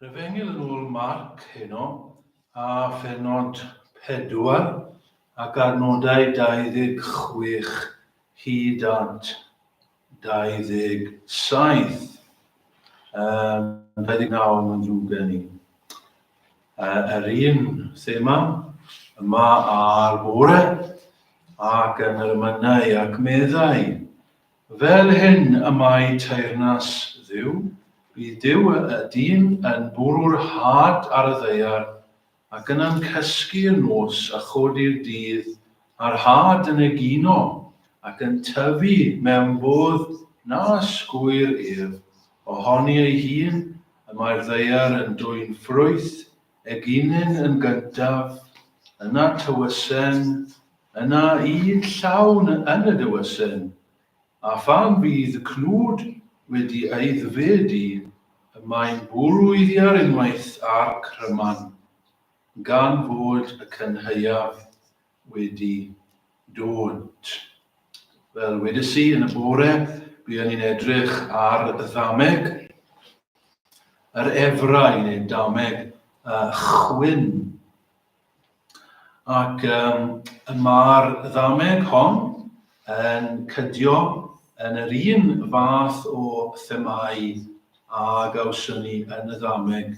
Yr efengyl yn ôl Marc heno, a phenod 4 ac ar nodau 26 hyd at 27. Um, 29 yn ddrwg gen i. Uh, yr un thema yma ar bore ac yn yr ymynau ac meddai Fel hyn y mae teyrnas Dduw, bydd Duw y y dyn yn bwrw'r had ar y ddaear, ac yna'n cysgu y nos a chodi'r dydd, a'r had yn egino, ac yn tyfu mewn bodd na ysgwyr ef, ohoni ei hun y mae'r ddaear yn dwyn ffrwyth, eginyn yn gyntaf, yna tywysen, Yna un llawn yn y dewysen, a phan fydd y cnwd wedi aeddfedu, y mae'n bwrw-eiddiar unwaith â'r cryman, gan fod y cynhaeaf wedi dod. Fel wedes i yn y bore, buon ni'n edrych ar ddameg yr efra i wneud dameg y chwyn. Ac um, mae'r ddameg hon yn cydio yn yr un fath o themau a gawson ni yn y ddameg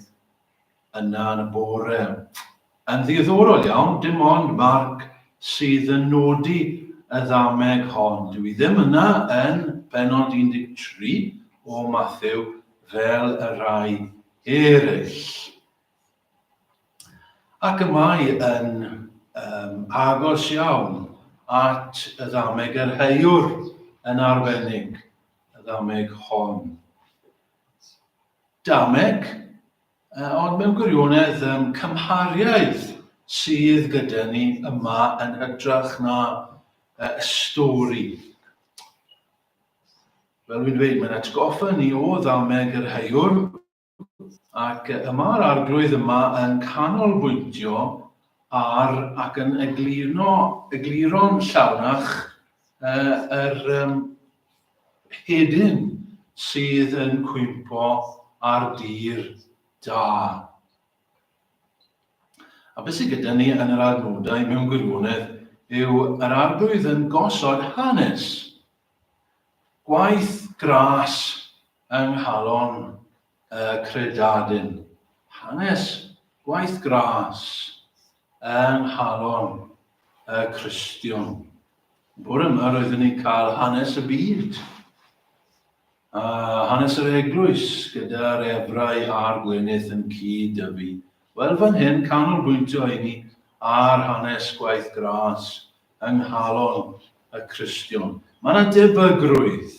yna yn y bore. Yn ddiddorol iawn, dim ond Mark sydd yn nodi y ddameg hon. Dwi i ddim yna yn benod 13 o Matthew fel y rhai eraill. Ac y mae yn um, agos iawn at y ddameg yr heiwr yn arbennig, y ddameg hon. Dameg, uh, ond mewn gwirionedd um, cymhariaeth sydd gyda ni yma yn hytrach na uh, y stori. Fel dwi'n dweud, mae'n atgoffa ni o ddameg yr heiwr, ac y mae'r Arglwydd yma yn canolbwyntio ar ac yn egluro, egluro'n llawnach uh, yr um, hedyn sydd yn cwympo ar dir da. A beth sydd gyda ni yn yr adnodau mewn gwirionedd yw yr arglwydd yn gosod hanes, gwaith gras yng nghalon y credadun, hanes gwaith gras yng nghalon y Cristion. Bore yma roeddwn ni'n cael hanes y byd a hanes yr eglwys gyda'r efrau a'r gwenydd yn cyd y fi. Wel fan hyn canolbwyntio i ni ar hanes gwaith gras yng nghalon y Cristion. Mae yna debygrwydd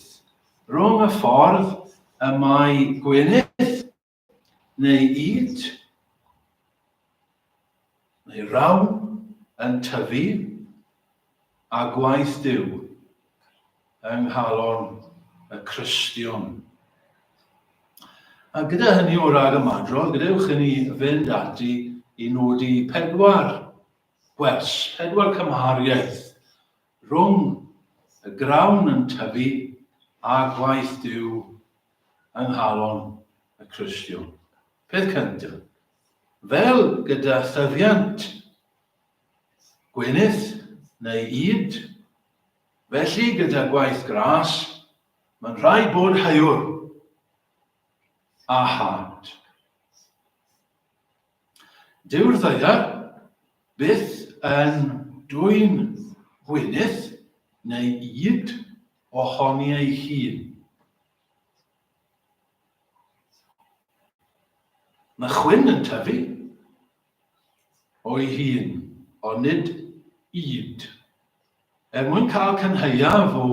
Rhwng y ffordd y mae Gwynedd, neu Yd, neu Rawn, yn tyfu, a gwaith Duw yng nghalon y Cristion. A gyda hynny o rag ymadrodd, gadewch i ni fynd ati i nodi pedwar gwers, pedwar cymhariaeth Rhwng y grawn yn tyfu a gwaith Duw yng nghalon y Cristion. Peth cyntaf, fel gyda thyfiant gwenith neu ŷd, felly gyda gwaith gras, mae'n rhaid bod haiwr a had. Dyw'r ddaear byth yn dwyn gwynydd neu ŷd ohoni ei hun. Mae chwyn yn tyfu o'i hun, ond nid ŷd. Er mwyn cael cynhaeaf o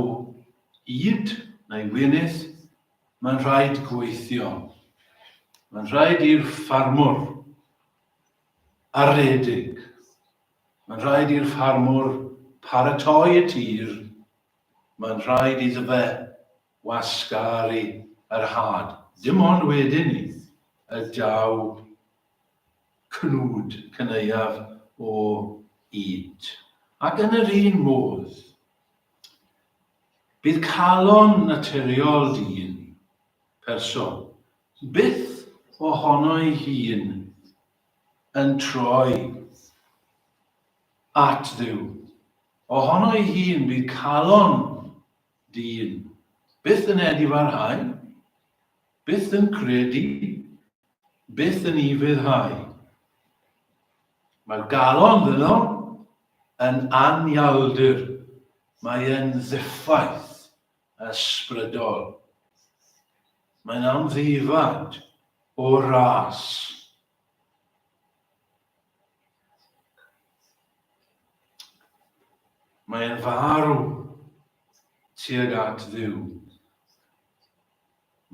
ŷd neu wynydd, Mae'n rhaid gweithio. Mae'n rhaid i'r ffarmwr a redig. Mae'n rhaid i'r ffarmwr paratoi y tir. Mae'n rhaid iddo fe wasgaru yr had. Dim ond wedyn ni y daw cnwd cyneuaf o ŷd. Ac yn yr un modd, Bydd calon naturiol dyn, person, byth ohono'i hun yn troi at Dduw. Ohono'i hun, bydd calon dyn byth yn edifarhau, byth yn credu, byth yn ufuddhau. Mae'r galon ddynol yn anialdir Mae e'n ddiffaith ysbrydol. Mae'n amddifad o ras. Mae'n farw tuag at Dduw.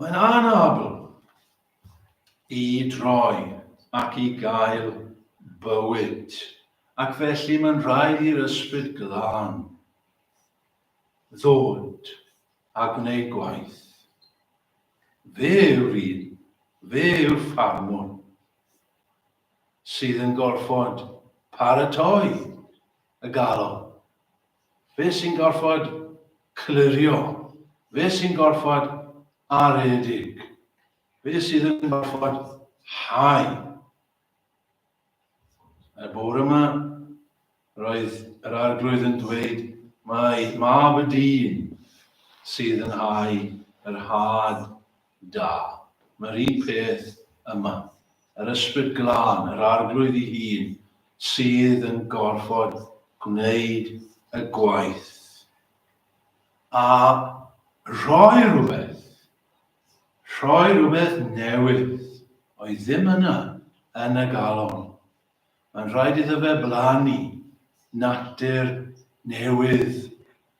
Mae'n anabl i droi ac i gael bywyd, ac felly mae'n rhaid i'r Ysbryd Glân ddod a gwneud gwaith. Fe yw'r un, fe yw'r ffarmwr, sydd yn gorfod paratoi y galon Fe sy'n gorfod clirio. Fe sy'n gorfod aredig. Fe sydd yn gorfod hau. Y bore yma, roedd yr arglwydd yn dweud mae mab y dyn sydd yn hau yr had Da. Mae'r un peth yma. Yr Ysbryd Glân, yr Arglwydd ei hun, sydd yn gorfod gwneud y gwaith a rhoi rhywbeth, rhoi rhywbeth newydd oedd ddim yna yn y galon. Mae'n rhaid iddo fe blannu natur newydd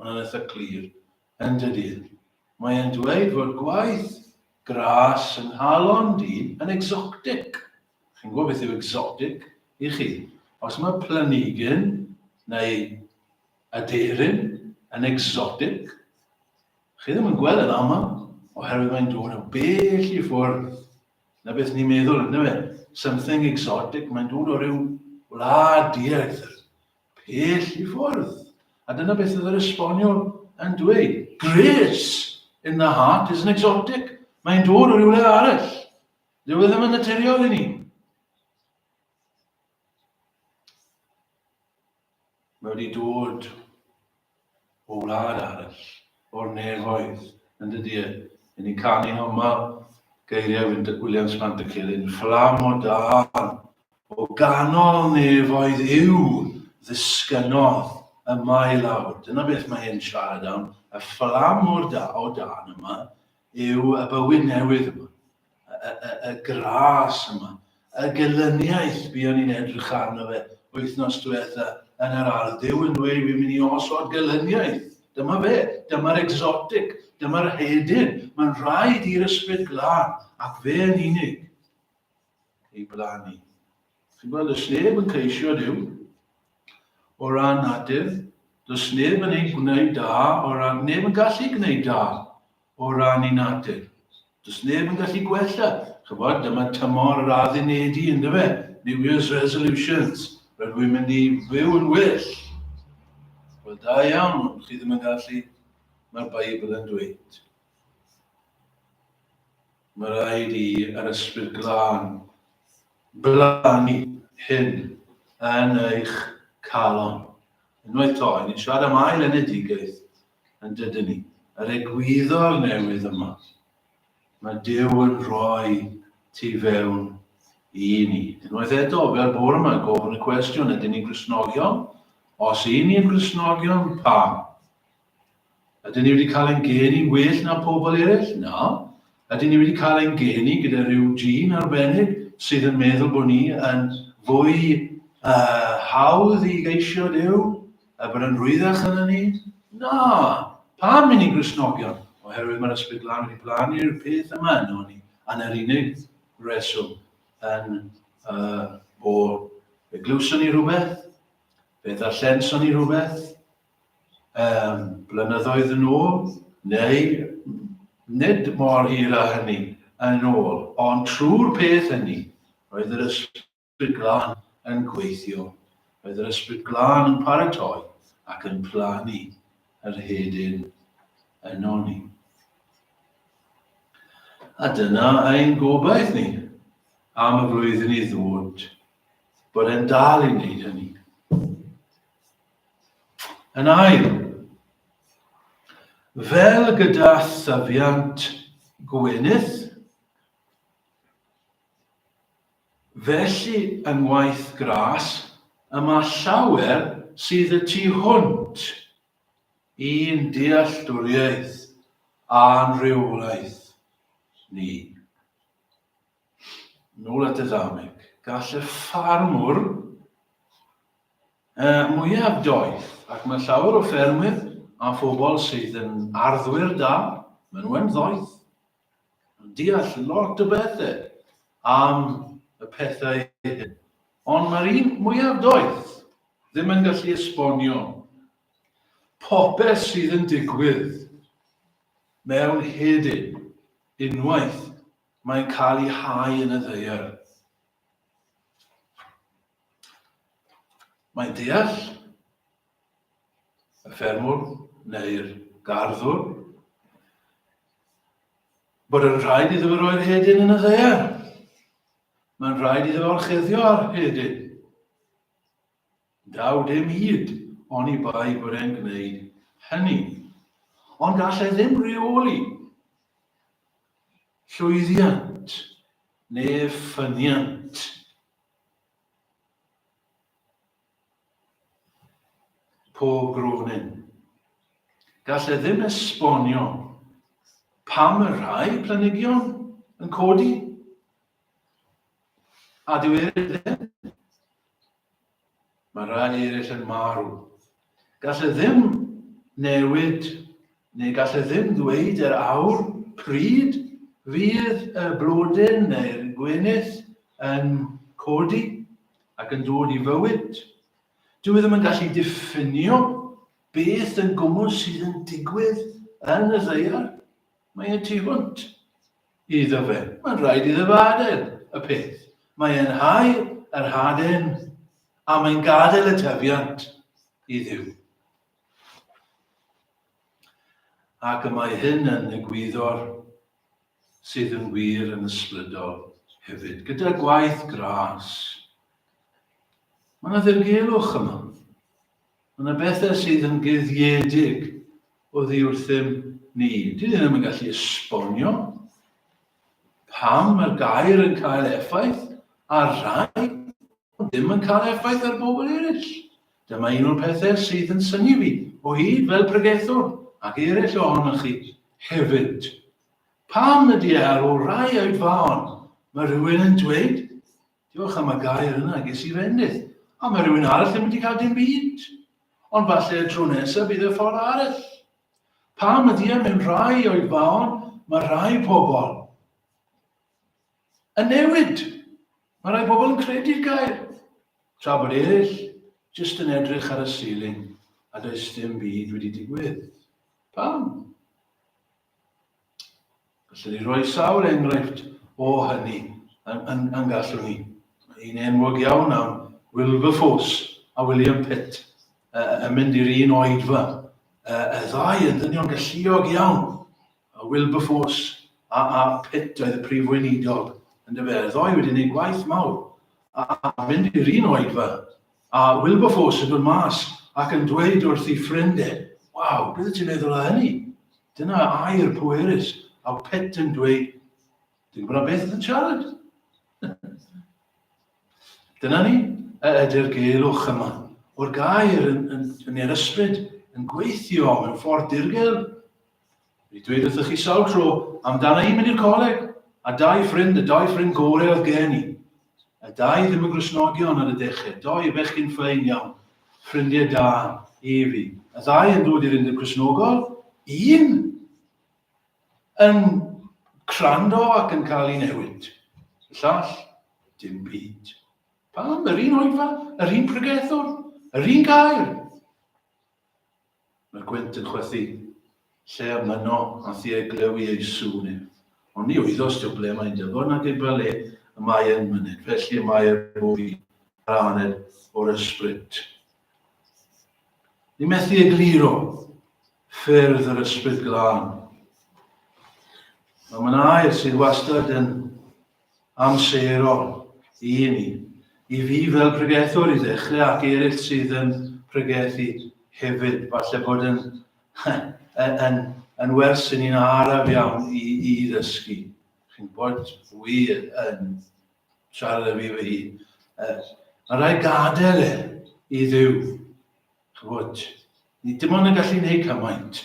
Mae'n eitha clir, yn dydi? Mae e'n dweud fod gwaith gras yng nghalon dyn yn exotic. Chi'n gwybod beth yw exotic i chi? Os mae planigyn neu aderyn yn exotic, chi ddim yn gweld yn aml, oherwydd mae'n dod o bell i ffwrdd na beth ni'n meddwl, ynddo fe? Something exotic, mae'n dod o ryw wlad diarth, pell i ffwrdd, a dyna beth oedd yr esboniwr yn dweud, Grace in the heart isn't exotic, mae'n dod o rywle arall. Dyw e ddim yn naturiol i ni. Mae wedi dod o wlad arall, o'r nefoedd, yn dy dir, i ni canu homa geiriau Wyntoc Williams Pant y Celyn, Fflam o dân, o ganol nefoedd yw ddisgynnodd yma i lawr. Dyna beth mae e'n siarad am, y fflam o dân yma yw y bywyd newydd yma. y, y, y gras yma, y gelyniaeth buon ni'n edrych arno fe wythnos diwetha yn yr ardd, Dyw yn dweud fi'n mynd i osod gelyniaeth. Dyma fe, dyma'r exotic, dyma'r hedyn. Mae'n rhaid i'r ysbryd glân, ac fe yn unig, ei blannu. Chi'n gweld, does neb yn ceisio Dyw o ran nadur, does neb yn ei gwneud da, o ran neb yn gallu gwneud da o ran y natur. Does neb yn gallu gwella, chibod, dyma tymor yr addunedi, yn dyfe? New Year's resolutions. Rydw i'n mynd i fyw yn well. Wel, da iawn, ond chi ddim yn gallu, mae'r Beibl yn dweud. Mae rhaid i yr ysbryd glân blannu hyn yn eich calon. Unwaith to, ni'n siarad am ail enedigaeth, Yn dydyn ni, yr egwyddor newydd yma, mae Duw yn rhoi tu fewn i ni. Unwaith eto, fel bore yma, gofyn y cwestiwn, ydyn ni'n grisnogion? Os i ni'n grisnogion, pam? Ydyn ni wedi cael ein geni well na pobl eraill? Na. Ydyn ni wedi cael ein geni gyda rhyw gene arbennig sydd yn meddwl bod ni yn fwy uh, hawdd i geisio Duw? A bod yn rwyddach yn y nid? Na! Pam i ni Gristnogion? Oherwydd mae'r Ysbryd Glân wedi blannu'r peth yma yno ni, a'n yr unig reswm yn uh, o fe glywson ni rhywbeth, fe ddarllenson ni rhywbeth, um, blynyddoedd yn ôl, neu nid mor hir a hynny yn ôl, ond trwy'r peth hynny, roedd yr ysbryd Ysbryd Glân yn gweithio. Roedd yr Ysbryd Glân yn paratoi ac yn plannu yr hedyn ynon ni. A dyna ein gobaith ni am y flwyddyn i ddod, bod e'n dal i wneud hynny. Yn ail, fel gyda thyfiant gwenith, Felly yng ngwaith Grass y mae llawer sydd y tu hwnt i'n dealltwriaeth a'n rheolaeth ni. Nôl at y ddameg. Gall y ffarmwr yy mwyaf doeth, ac mae llawer o ffermwyr a phobl sydd yn arddwyr da, maen nhw yn ddoeth, yn deall lot o bethe am y pethau hyn, ond mae'r un mwyaf doeth ddim yn gallu esbonio popeth sydd yn digwydd mewn hedyn unwaith mae'n cael ei hau yn y ddeiar. Mae'n deall y ffermwr neu'r garddwr, bod yn rhaid iddo fo roi'r hedyn yn y ddear. Mae'n rhaid iddo fo'r cheddio ar hedyn. Daw dim hyd ond i bai bod e'n gwneud hynny. Ond gall e ddim reoli llwyddiant neu ffyniant. Pob gronin. Gall e ddim esbonio pam y rhai planigion yn codi. A dyw e ddim. Mae rhai eraill yn marw. Gall e ddim newid, neu gall e ddim ddweud yr awr pryd fydd y blodyn neu'r gwenith yn codi. ac yn dod i fywyd. Dw i ddim yn gallu diffinio beth yn gwmwl sydd yn digwydd yn y ddeiar. Mae y tu hwnt iddo fe. Mae'n rhaid iddo fe adael y peth. Mae e'n hau yr haden a mae'n gadael y tyfiant i ddiw. Ac y mae hyn yn egwyddor sydd yn wir yn ysbrydol hefyd, gyda gwaith gras. Mae yna ddirgelwch yma. Mae yna bethau sydd yn guddiedig o ddiwrthym ni. Dwi ddim yn gallu esbonio pam mae'r gair yn cael effaith ar rai, ond ddim yn cael effaith ar bobl eraill. Dyma un o'r pethau sydd yn synnu fi o hyd fel pregethwr, ac eraill ohonoch chi hefyd. Pam ydy e ar ôl rai oedfaon, mae rhywun yn dweud, diolch am y gair yna, ges i fendith, a mae rhywun arall ddim wedi cael dim byd. Ond falle y tro nesaf bydd y ffordd arall. Pam ydy e mewn rhai oedfaon, mae rhai pobl, Yn newid! Mae rhai pobl yn credu'r gair, tra bod eraill jyst yn edrych ar y ceiling a does dim byd wedi digwydd. Pam? Gallwn ni roi sawl enghraifft o hynny yn, yn, yn gallwn ni. Yn enwog iawn am Wilberforce a William Pitt yn mynd i'r un oedfa. Y ddau yn ddynion galluog iawn, A Wilberforce, a a Pitt oedd y prif weinidog, yndyfe? Y ddou wedi gwneud gwaith mawr. A a mynd i'r un oedfa. A Wilberforce yn dod mas ac yn dweud wrth ei ffrind e, Waw, beth wyt ti'n meddwl o hynny? Dyna air pwerus. A Pitt yn dweud, Dwi'n gwybod am beth yn siarad. Dyna ni, y ydy'r geilwch yma, o'r gair yn, yn, yn yr ysbryd, yn gweithio mewn ffordd dirgel, Fe dweud wrthych chi sawl tro amdana i mynd i'r coleg, a dau ffrind, y dau ffrind gore oedd gen i. Y dau ddim yn Gristnogion ar y dechrau, doi bechgyn ffein iawn, ffrindiau da i fi. Y ddau yn dod i'r Undeb Cristnogol, un yn crando ac yn cael ei newid. Y llall, dim byd. Pam? Yr un oedfa, yr un pregethwr, yr un gair. Mae'r gwynt yn chwythu. Lle a myno a thi ei glyw i ei sŵn ef. Ond ni oeddos Job ble mae'n dyfod nag ef fel le y mae e'n myned, felly y mae er bob un yr aned o'r ysbryd. Ni methu egluro ffyrdd yr ysbryd glân. Mae mae'n air sydd wastad yn amserol i ni, i fi fel pregethwr i ddechrau ac eraill sydd yn pregethu hefyd. Falle bod yn, yn, yn, yn wers i ni'n araf iawn i, i ddysgu. Chi'n bod fwy yn siarad â fi fy hun. Mae rhaid gadael e i ddiw. Chybod, ni dim ond yn gallu gwneud cymaint.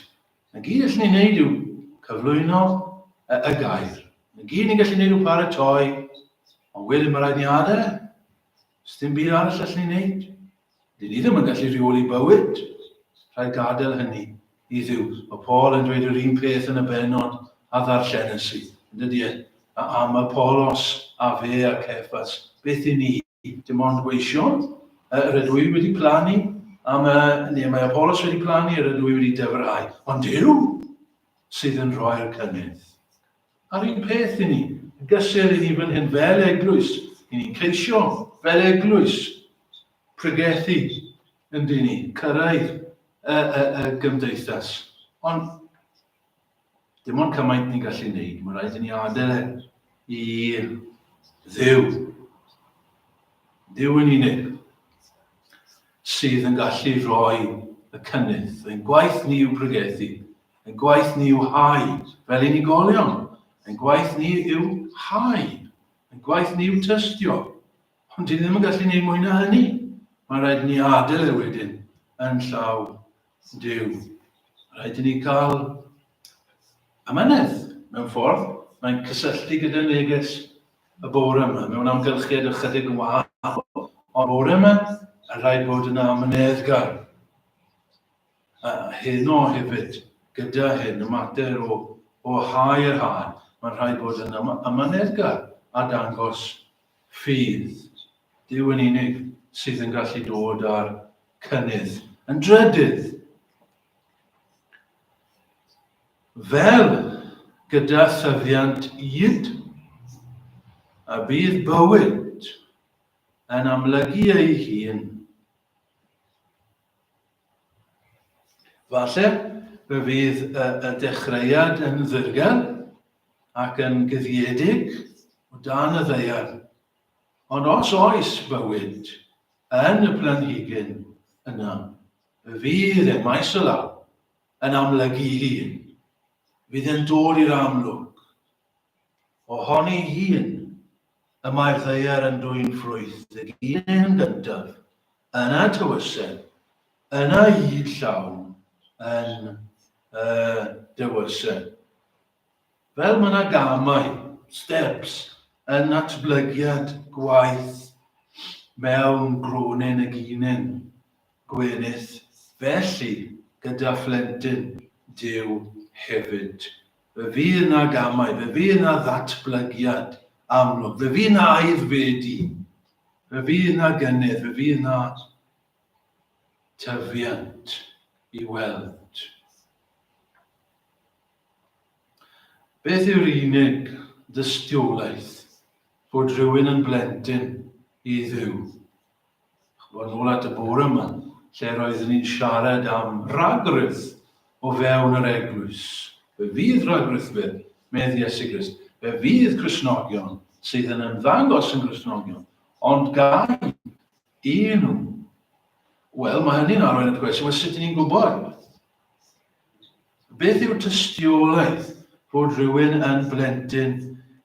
Y gyd allwn ni wneud yw cyflwyno y y gair. Y gyd ni'n gallu wneud yw paratoi, ond wedyn mae rhaid ni adael e. Sdim byd arall allwn ni wneud. Dyn ni ddim yn gallu rheoli bywyd. Rhaid gadael hynny i ddiw. Mae Paul yn dweud yr un peth yn y benod a ddarllen y sydd. Yn dydy e? A am Apollos, a fe a Cefas, beth i ni? Dim ond gweision. Yy, rydw i wedi plannu am y... neu mae Apolos wedi plannu, rydw i wedi dyfrhau. Ond Duw sydd yn rhoi'r cynnydd. A'r un peth i ni, yn gysur i ni fan hyn fel eglwys, i ni'n ceisio fel eglwys pregethu yn dyn ni, cyrraedd y, y, y gymdeithas. Ond Dim ond cymaint ni'n gallu wneud, mae'n rhaid i ni adael e i ddiw. Ddiw yn unig sydd yn gallu rhoi y cynnydd. Ein gwaith ni yw pregethu, ein gwaith ni yw hau, fel unigolion, ein gwaith ni yw hau, ein gwaith ni yw tystio. Ond dyn ni ddim yn gallu gwneud mwy na hynny. Mae'n rhaid ni adael e wedyn yn llaw Duw. Rhaid i ni gael amynedd mewn ffordd. Mae'n cysylltu gyda neges y bore yma, mewn amgylchiad ychydig yn wahanol. Ond bore yma, a rhaid bod yn amyneddgar. A heno hefyd, gyda hyn, y mater o, o hau yr hau, mae'n rhaid bod yn amyneddgar a dangos Ffydd, Duw yn unig sydd yn gallu dod â'r cynnydd yn drydydd. Fel gyda thyfiant id, a bydd bywyd yn amlygu ei hun Falle fe fydd y, y dechreuad yn ddirgel ac yn guddiedig o dan y ddeiar. Ond os oes bywyd yn y planhigyn yna, fe fydd e maes o law yn amlygu ei hun. Fydd yn dod i'r amlwg Ohon ei hun, y mae ddaear yn dwyn ffrwyth y gyn yn gyntaf, yna tywysen, yna hyd llawn yn y dywysen. Fel mae yna gamau, steps, yn natblygiad gwaith mewn grwnin y gynyn, Gwyneth, Felly, gyda phlentyn, Duw, hefyd. Fe fydd 'na gamau, fe fydd 'na ddatblygiad amlwg, fe fydd 'na aeddfedu, fe fydd 'na gynnydd, fe fydd 'na tyfiant i weld. Beth yw'r unig dystiolaeth bod rhywun yn blentyn i Dduw? Chimod, ôl at y bore 'ma, lle roeddwn i'n siarad am ragrith o fewn yr eglwys. Fe fydd ragrith fe, medd Iesu Grist. Fe fydd Crisnogion sydd yn ymddangos yn Grisnogion, ond gai i nhw. Wel, mae hynny'n arwain at gwestiwn, wel, sut ni'n gwybod? Beth yw tystiolaeth fod rhywun yn blentyn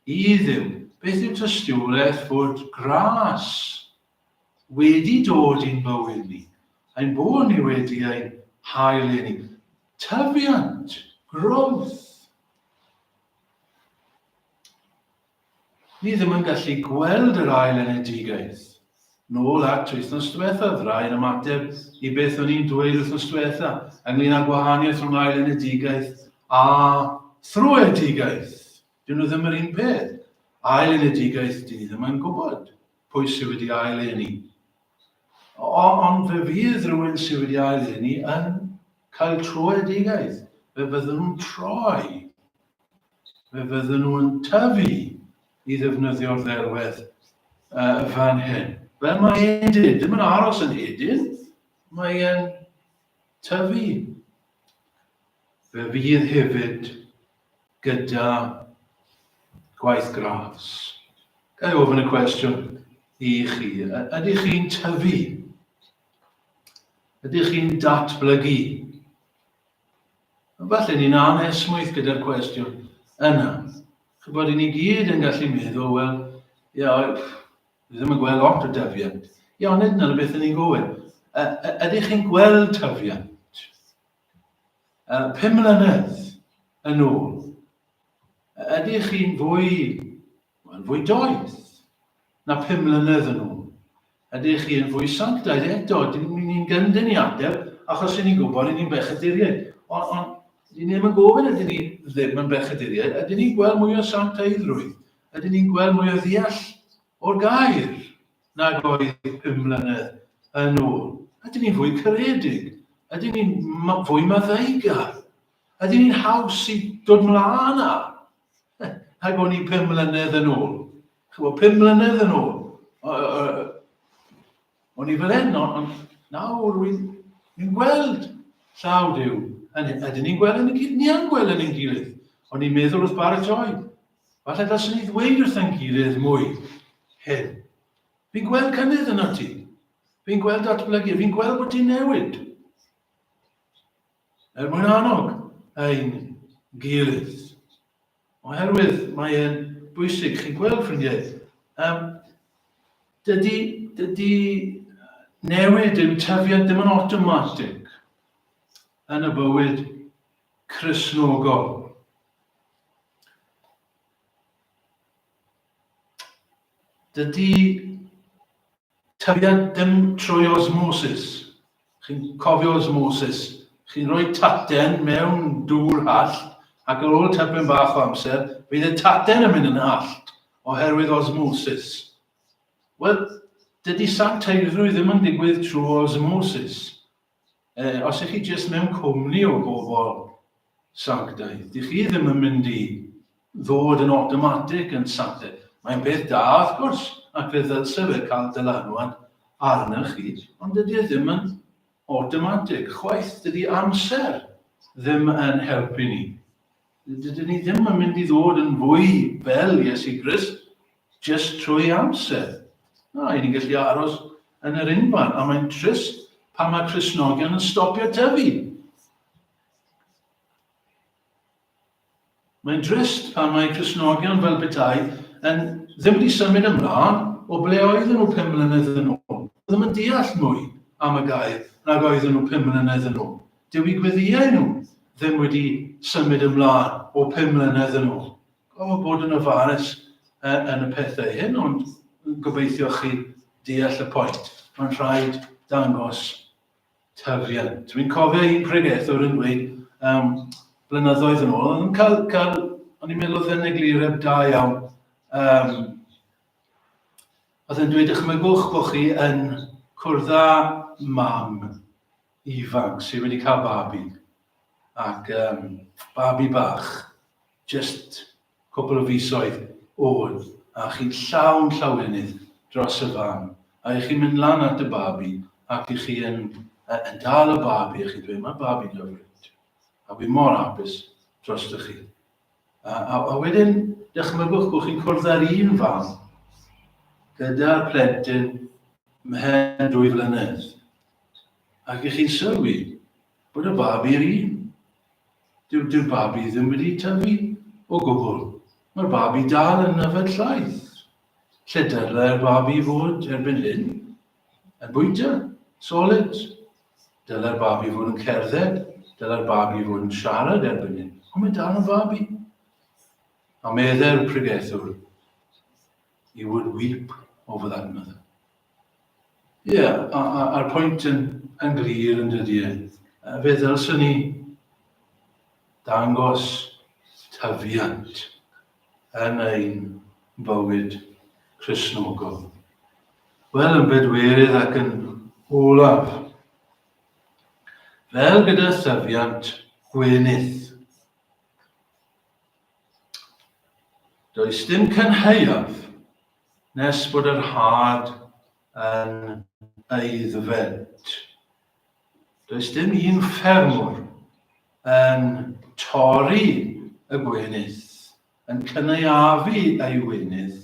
i Dduw? Beth yw tystiolaeth fod gras wedi dod i'n bywyd ni? Ein bod ni wedi ein hael i ni. Tyfiant, growth. Ni ddim yn gallu gweld yr ail enedigaeth. Nôl at wythnos diwethaf, rai yn ymateb i beth o'n i'n dweud wythnos diwetha ynglyn â gwahaniaeth rhwng ail enedigaeth a thrwedigaeth. Dyn nhw ddim yr un peth. Ail enedigaeth, dyn ni ddim yn gwybod pwy sydd wedi ail eni. Ond fe fydd rhywun sydd wedi ail eni yn cael trwedigaeth. Fe fyddwn nhw'n troi fe fydden nhw yn tyfu i ddefnyddio'r ddelwedd uh, fan hyn. Fel mae e'n dyn, ddim yn aros yn hedyn, mae e'n tyfu. Fe fydd hefyd gyda gwaith gras. Gael ei ofyn y cwestiwn i chi, ydych chi'n tyfu? Ydych chi'n datblygu? Falle ni'n anesmwyth gyda'r cwestiwn yna. Chybod, i ni gyd yn gallu meddwl, wel, ia, ni ddim yn gweld lot o dyfiant. Ia, ond nid yna beth yn ni'n gofyn. Ydych chi'n gweld tyfiant? Pum mlynedd yn ôl, ydych chi'n fwy Mae'n fwy doeth na phum mlynedd yn ôl. Ydych chi yn fwy sanctaidd eto? Dyn ni'n gyndyn i ateb, achos rydyn ni'n gwybod rydyn ni'n bechaduriaid. Ond on, dyn ni ddim yn gofyn ydyn ni ddim yn bechaduriaid, ydyn ni'n gweld mwy o sanctaiddrwydd, ydyn ni'n gweld mwy o ddeall o'r gair nag oedd pum mlynedd yn ôl. Ydyn ni'n fwy caredig, ydyn ni'n fwy maddeugar, ydyn ni'n haws i dod mlaen â, Ac o'n i pum mlynedd yn ôl. Chwa, pum mlynedd yn ôl. O'n i fel hyn, ond nawr wy'n ni'n gweld llaw Dyw. Ydyn ni'n gweld yn y gilydd? Ni am gweld yn y gilydd. O'n i'n meddwl wrth baratoi. Falle dylswn ni ddweud wrthyn gilydd mwy hyn. Fi'n gweld cynnydd yn ti. Fi'n gweld datblygu. Fi'n gweld bod ti'n newid. er mwyn annog ein gilydd. Oherwydd mae e'n bwysig, chi'n gweld ffrindiau, um, dydy, dydy newid yw tyfiant ddim yn automatic yn y bywyd chrysnogol. Dydy Tybied dim trwy osmosis. Chi'n cofio osmosis? Chi'n rhoi taten mewn dŵr hallt ac ar ôl tipyn bach o amser fydd y taten yn mynd yn hallt oherwydd osmosis. Wel, dydy sancteiddrwydd ddim yn digwydd trwy osmosis. Yy, os ych chi jyst mewn cwmni o bobl sanctaidd, dych chi ddim yn mynd i ddod yn awtomatig yn sanctaidd. Mae'n peth da, wrth gwrs, ac fe ddylse fe cael dylanwad arnoch chi, ond dydy e ddim yn awtomatig chwaith. Dydy amser ddim yn helpu ni. Dydyn ni ddim yn mynd i ddod yn fwy fel Iesu Grist Jyst trwy amser. A, i ni'n gallu aros yn yr unfan, a mae'n trist pan mae Crisnogion yn stopio tyfu. Mae'n drist pan mae Crisnogion fel bethau yn ddim wedi symud ymlaen o ble oedden nhw pum mlynedd yn ôl. Ddim yn deall mwy am y gair nag oedden nhw pum mlynedd yn ôl. Dyw i gweddiau nhw ddim wedi symud ymlaen o pum mlynedd yn ôl. O bod yn ofalus yn y pethau hyn, ond gobeithio chi deall y pwynt. Mae'n rhaid dangos tyfiant. Dwi'n cofio un pregethwr yn dweud um, blynyddoedd yn ôl, yn cael, cael o'n i'n meddwl oedd yn eglureb da iawn, um, oedd yn dweud ychmygwch bod chi yn cwrdd â mam ifanc sydd wedi cael babi ac um, babi bach Jyst cwpl o fisoedd ôl a chi'n llawn llawenydd dros y fan a i chi'n mynd lan at y babi ac i chi yn yn dal y babi a chi'n dweud mae'r babi'n hyfryd a wi mor hapus drostoch chi. A, a, a wedyn dychmygwch bod chi'n cwrdd â'r un fam gyda'r plentyn mhen dwy flynedd ac i chi'n sylwi bod y babi'r un. Dyw, dyw'r babi ddim wedi tyfu o gwbl. Mae'r babi dal yn yfed llaeth. Lle dylai'r babi fod erbyn hyn? Yn bwyta, solid. Dylai'r babi fod yn cerdded, dylai'r babi fod yn siarad erbyn hyn. Ond mae dal yn babi. A meddai'r pregethwr, He would weep over that mother. Ie, a, a, a'r pwynt yn, yn glir yn dydy e. Fe ddylswn ni dangos tyfiant yn ein bywyd Cresnogol. Wel, yn bedwerydd ac yn olaf, fel gyda thyfiant gwenydd. Does dim cynhaeaf Nes bod yr had yn aeddfed. Does dim un ffermwr yn torri y gwenith, yn cynaeafu ei wenith,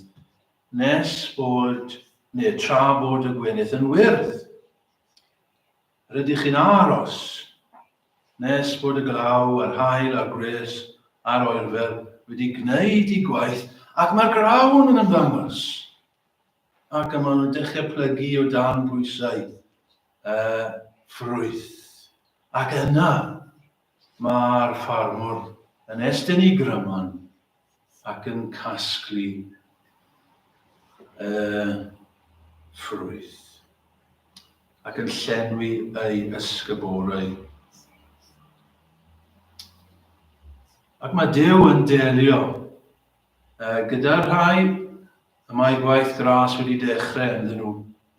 nes bod, neu tra bod y gwenith yn wyrdd. Rydych chi'n aros nes bod y glaw a'r haul a'r gwres a'r oerfel wedi gwneud i gwaith ac mae'r grawn yn ymddangos ac y maen nhw'n dechrau plygu o dan bwysau uh, ffrwyth. Ac yna, Mae'r ffarmwr yn estyn ei gryman ac yn casglu y ffrwyth ac yn llenwi ei ysgyborau. Ac mae Duw yn delio gyda'r rhai y mae gwaith gras wedi dechrau ynddyn nhw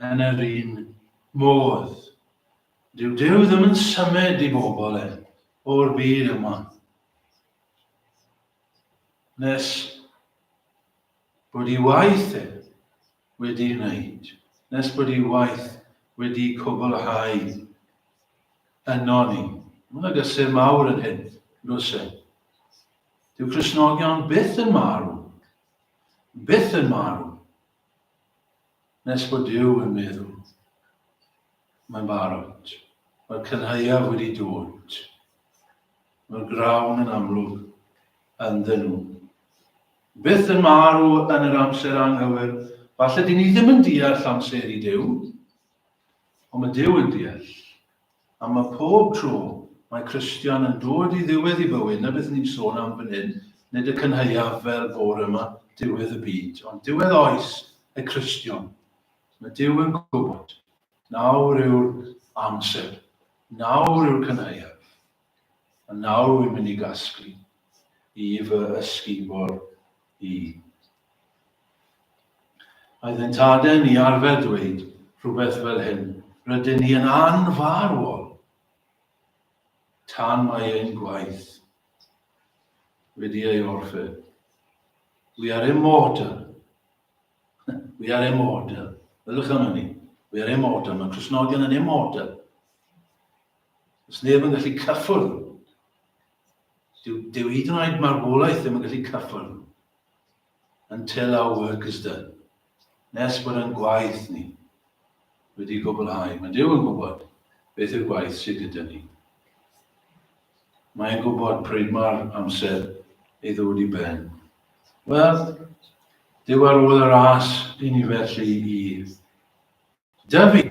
yn yr un modd. Dyw Duw ddim yn symud i bobl e o'r byd yma nes bod ei waith e wedi wneud, nes bod ei waith wedi cwblhau yno ni. Mae'n agosur mawr yn hyn, nos e. Dyw Cresnogion byth yn marw, byth yn marw. Nes bod Duw yn meddwl. Mae'n barod. Mae'r cynhaeaf wedi dod. Mae'r grawn yn amlwg ynddyn nhw. Byth yn marw yn yr amser anghywir. Falle dyn ni ddim yn deall amser i Duw, ond mae Duw yn deall A mae pob tro mae Christian yn dod i ddiwedd i bywyd, 'na beth ni'n sôn am fan hyn, nid y cynhaeaf fel bore yma, diwedd y byd, ond diwedd oes y Cristion. Mae Dyw yn gwybod. Nawr yw'r amser. Nawr yw'r cynhaeaf. A nawr wy'n mynd i gasglu i fy ysgubor i. Oedd yn taden i arfer dweud rhywbeth fel hyn, rydyn ni yn anfarwol tan mae ein gwaith wedi ei orffen. We are immortal. We are immortal. Ydych am hynny? We are immortal. Mae Cresnogion yn immortal. Does neb yn gallu cyffwrdd. Dyw, dyw hyd yn oed marwolaeth ddim yn gallu cyffwrdd. Until our work is done. Nes bod yn gwaith ni wedi gwblhau. Mae Dyw yn gwybod beth yw'r gwaith sydd gyda ni. Mae'n gwybod pryd mae'r amser ei ddod i ben. Wel, Dyw ar ôl y ras i ni felly i Dw i,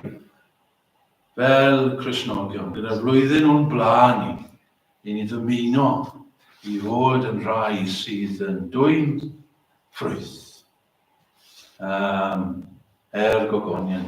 fel Cristnogion, gyda'r flwyddyn o'n blaen ni, i ni ddymuno i fod yn rhai sydd yn dwyn ffrwyth um, er gogoniant.